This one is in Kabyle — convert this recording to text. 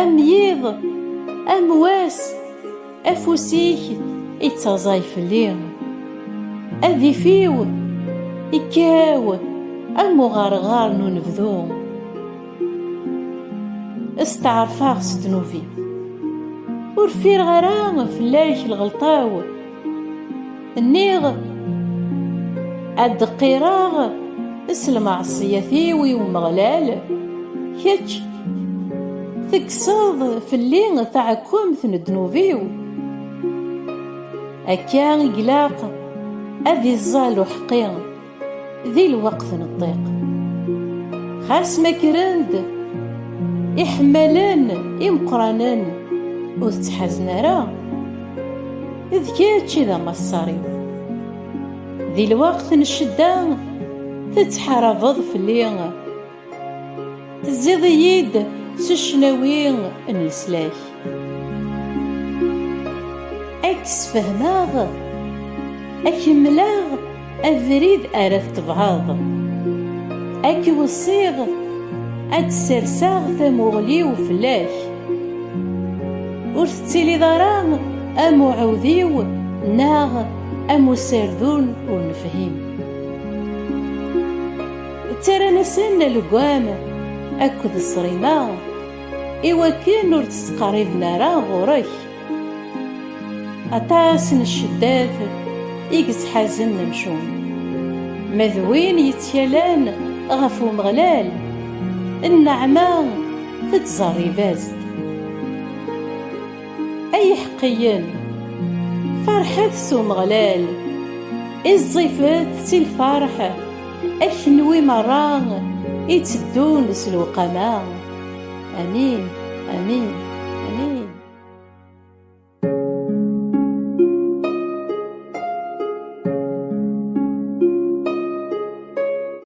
Am yiḍ, am wass, afus-ik ittaẓay fell-i. Adif-iw ikkaw am uɣerɣar n unebdu. Steɛṛfeɣ s ddnub-iw. Ur ffireɣ ara fell-ak lɣelṭa-w. Nniɣ ad d-qqireɣ s lmeɛṣiyat-iw i Umeɣlal, kečč tekkseḍ fell-i taɛekkemt n ddnub-iw. Akka i ilaq ad iẓẓall uḥeqqi. Di lweqt n ṭṭiq Xas ma kkren-d Iḥemmalen imeqqranen Ur tettḥazen ara D kečč i d amaṣṣar-iw Di lweqt n ccedda Tettḥarabeḍ fell-i Tezziḍ-iyi-d s ccnawi n leslak Ad k-sfehmeɣ Ad k-mleɣ abrid ara tettebɛeḍ Ad k-weṣṣiɣ Ad d-serseɣ tamuɣli-w fell-ak Ur tettiliḍ ara am uɛudiw Neɣ am userdun ur nefhim Ttarran-asen legam akked ṣrima iwakken ur d-ttqerriben ara ɣur-k. Aṭas n cceddat i yettḥazen amcum, ma d win yettkalan ɣef Umeɣlal, nneɛma tettẓerrib-as-d. Ay iḥeqqiyen, ferḥet s Umeɣlal, iẓẓifet si lferḥ, a kenwi merra itteddun s lewqama. Amin, amin, amin.